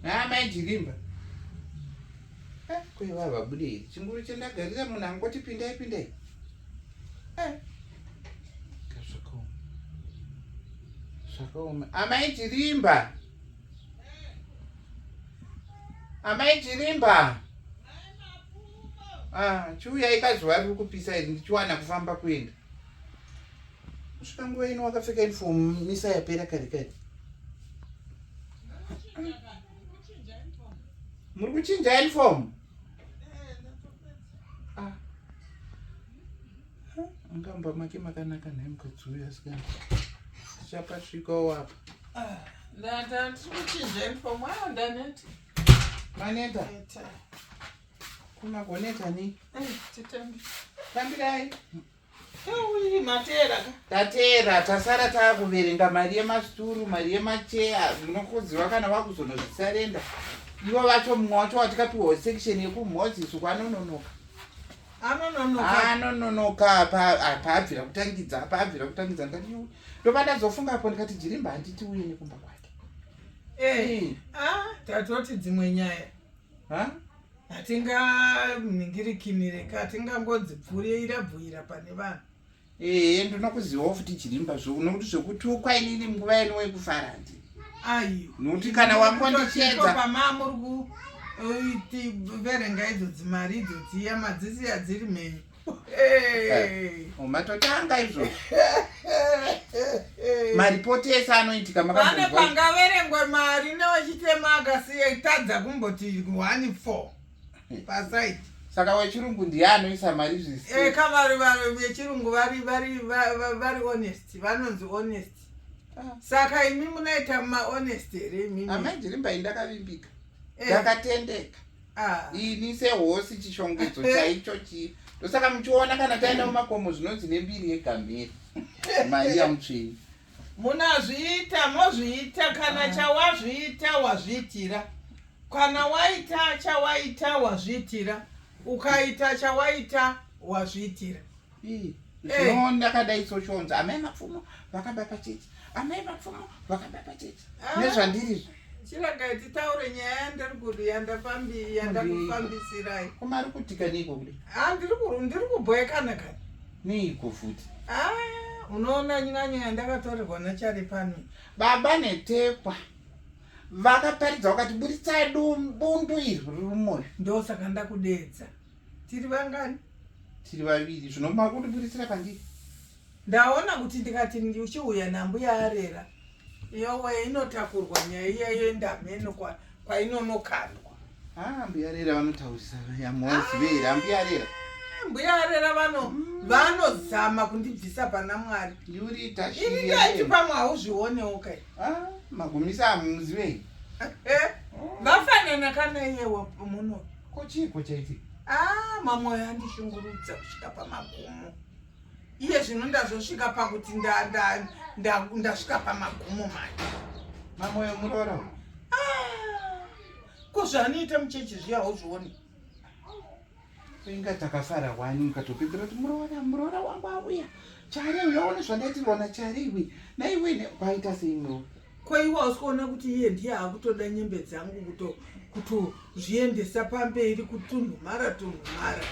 haa mai jilimba eh, kweva vabudei chinguru chandagarira munhu angoti pindai pindai eh. kazvakaoma zvakaoma amai jilimba amai jilimba ah, chiuyai kazuva riri kupisa iri ndichiwana kufamba kuenda kusvika nguva ino wakapfeka uniform misa yapera kare kare muri kuchinja uniform ah. angamba make makanaka nhai mukadzi uyu asikana tichapasvikawo apa ah, ndatikuchinja uniform ayo ndaneta maneta kumagoneta ni eh, titambirai tateera tasara taakuverenga mari yemasituru mari yemacheya munokuziva kana vakuzonozvisarenda ivo vacho mumwe wacho watikapiwa section yekumhozi suku anononoka anononoka paabvira kutangidza paabvira kutangidza ndikati ndopadazofunga apo ndikati jirimba handiti uye nekumba kwake eh, ah, tatoti dzimwe nyaya huh? hatinganingirikimire ka hatingangodzipfurira bvuira pane vanhu ee ndinokuzivawo futi chirimba zvo nokuti zvekutukwa inini nguva yenu wekufara ndi ayo nokuti kana wakondichedza pamamuri kuverenga idzo dzimari idzo dziya madzisi adziri mhenyu matotanga izvozvo maripoti ese anoitika makane pangaverengwe mari newechitema akasiya itadza kumboti one four pasaiti saka wechirungu ndiye anoisa mari zviseka eh, vari vari vechirungu vari vari vari honest vanonzi honest ah. saka imi munoita mahonest here imimi amai ndirimbai ndakavimbika eh. ndakatendeka Ah. ini sehosi chishongedzo eh. chaicho chii ndosaka muchiona kana taenda mumakomo zvinonzi nembiri yegamhiri maiya mutsvini munazviita mozviita kana ah. chawazviita wazviitira kana waita chawaita wazviitira ukaita chawaita wazviitira zvino ndakadai soshonza amai mapfumo vakaba pachechi amai mapfumo vakaba pachechi ah. nezvandirizvo chiragai titaure nyaya yandiri kudi yandakufambisirai koma ari kutika neiko kudi ah, ndiri kubhoekana kani neiko futi ah, unoona nyanyo yandakatorerwa nachari pano baba netekwa vakaparidza vakati buritsai bundu iri riri mumwoyo ndosaka ndakudeedza tiri vangani tiri vaviri zvino makundibuditsira pandiri ndaona kuti ndikati uchiuya nambuya arera yowe inotakurwa nyaya iya yendameno kwainonokandwa ah, mbuya rera vanotaurisa yamuwazivera ah, mbuya rera mbuya arera vano mm. vanozama kundibvisa pana mwari yuriitaiiti pamwe hauzvionewo kai ah, magumisa amuziveyi eh, vafanana kana iyewa muno Ko chiiko chaitika? Ah, mamoyo andishungurudza kusvika pamagumo. Iye zvino ndazosvika pakuti ndasvika pamagumo manje. Mamoyo muroora uyu. Ah, ko zvaanoita muchechi zviya hauzvioni? Inga takafara wani mukatopedzera kuti muroora muroora wangu auya. Chari uyaone zvandaitirwa nachari iwe. Naiwe kwaita sei muroora? Ko iwe hausi kuona kuti iye ndiye akutoda nyembe dzangu kuto kutozviendesa pamberi kutunhumara tunhumara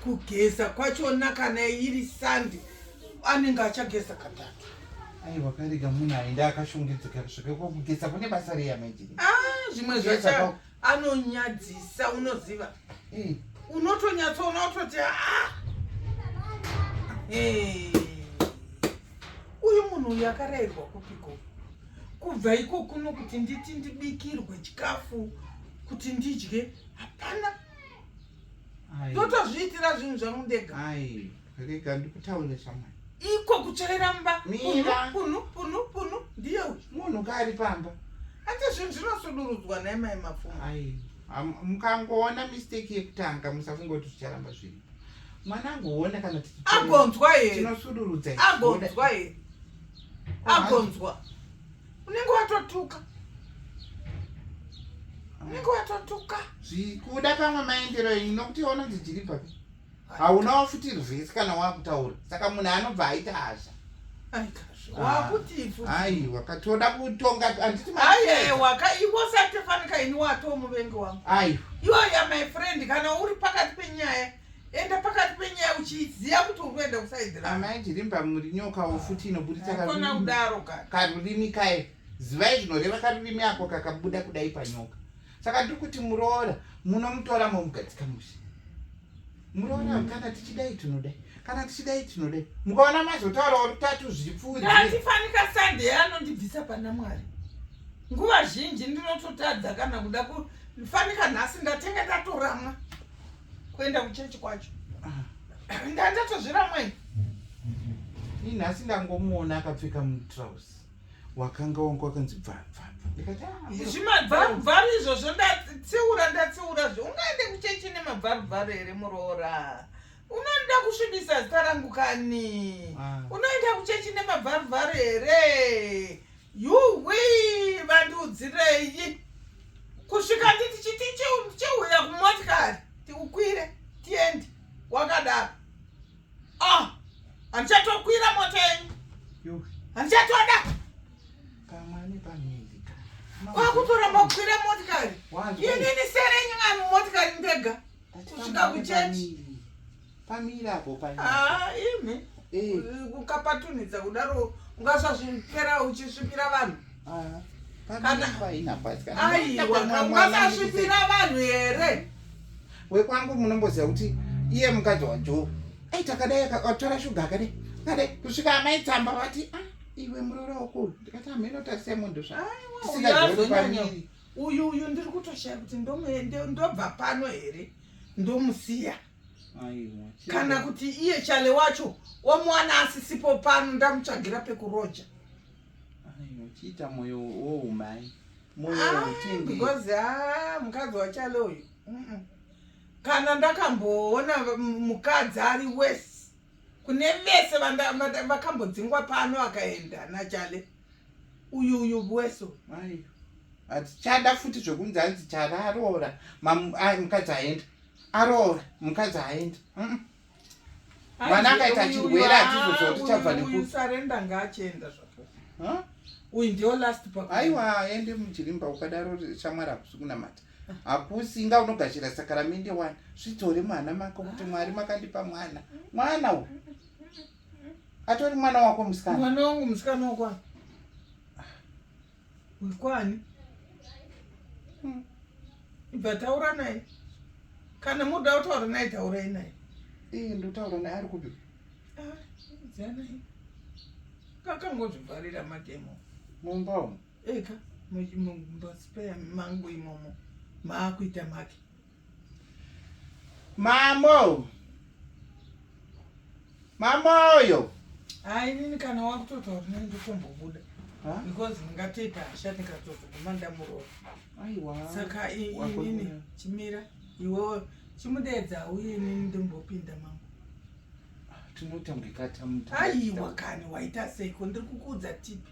kugeza kwachona kana iri sandi anenge achageza katatu aiwa karega munhu aenda akashongedzeka kusvika kwakugeza kune basa reya maijini ah, zvimwe zvacha anonyadzisa unoziva mm. unotonyatsoona utoti ah! uyu munhu uyu akarayirwa kupiko kubva iko kuno kuti nditi ndibikirwe chikafu kuti ndidye hapana ndotozviitira zvinhu zvangu ndega rega ndikutaure shamwari iko kuchaira mba punu punu punu ndiye uyu munhu kaari pamba ati zvinhu zvinosudurudzwa naye mai mapfuma mukangoona mistake yekutanga musafungoti zvicharamba zviri mwana angoona kana agonzwa here tinosudurudza agonzwa here agonzwa unenge watotuka unenge watotuka zvikuda kamwe maendero inokuti ononzi jiripapi hauna wafuti rwese kana wakutaura saka munhu anobva aita hasha aiwa ah. katoda kutonga andiiaiwa ka iwo satefanika ini wato muvengi wangu aiwa iwaya my friend kana uri pakati penyaya enda pakati penyaya uchiziva kuti uri kuenda kusaidiramai jirimba muri nyokawo futi inoburitsa kudaro karurimi kaye zivai zvinoreva karurimi ako kakabuda kudai panyoka saka tiri kuti muroora munomutora momugadzika mushe muroora mm. kana tichidai tinodai kana tichidai tinodai mukaona mazotaurawo rutatu zvipfuuatifanika sande anondibvisa pana mwari nguva zhinji ndinototadza kana kuda kufanika nhasi ndatenge ndatoramwa kuenda kuchechi kwacho ah. ndandatozviramwei inhasi ndangomuona akapfeka mutrouse wakanga wangu wakanzi bvabvabva ndikati ah, zvimabvabvabva izvozvo ndatsiura ndatsiura zvo ungaende kuchechi nemabvabvabva here muroora unoda kusvibisa zita rangu kani ah. unoenda kuchechi nemabvabvabva here yuwi vandiudzirei kusvika nditi chiti cheuya kumotikari tiukwire tiende wakadaro Ah, handichatokwira mota yenyu. Handichatoda. Kamani pamiri. Kwakutoramba kukwira motikari. Inini sere yenyu mwana motikari ndega. Kusvika kuchechi. Pamiri apo pamiri. Ah, imi. Eh. Ukapatunidza kudaro ungasazvipera uchisvipira vanhu. Ah, Aiwakasvipira vanhu here wekwangu munomboziva kuti iye mukadzi wajo ai takadai akatora shuga akadai akadai kusvika amai tsamba vati ah, iwe murora wako ndikati amheno tarisai munhu zvaaisingaoipaniri uyu uyu ndiri kutoshaya kuti ndobva pano here ndomusiya kana kuti iye chale wacho omuwana asisipo pano ndamutsvagira pekuroja uchiita moyo woumai moyo ah, wotindi because ah mukadzi wachalo uyu kana ndakamboona mukadzi ari wese kune vese vakambodzingwa pano akaenda nachale uyu uyu bweso hatichada futi zvekunzi anzi chale aroora mukadzi aenda aroora mukadzi aenda mwana akaita chirwere atizoziva kuti chabva nekusarenda ngaachienda zvako uyu ndio last pa aiwa ende mujirimba ukadaro shamwari hakusi kunamata hakusi inga unogashira sakaramende wani zvidzore mwana mako kuti mwari makandipa mwana mwana u atori mwana wako musikana mwana wangu musikana wakwa Uri kwani? Hmm. Ibva taura naye. Kana muda kutaura naye taurai naye. Iye ndotaura naye ari kupi? Ah, zana. Kakangozvivharira mademo. Mumba umu. Eka, mumba spare mangu imomo. Maakuita make. Mamo. Mamoyo. Hayi nini kana wakutotaura nini ndikumbobuda. Because ndingatoita hasha ndikatozoguma ndamuroora. Aiwa. Saka inini chimira iwewe chimudeedza uye nini ndimbopinda mama. Tinoita mukikata muta. Aiwa kani waita seiko ndiri kukuudza tipi.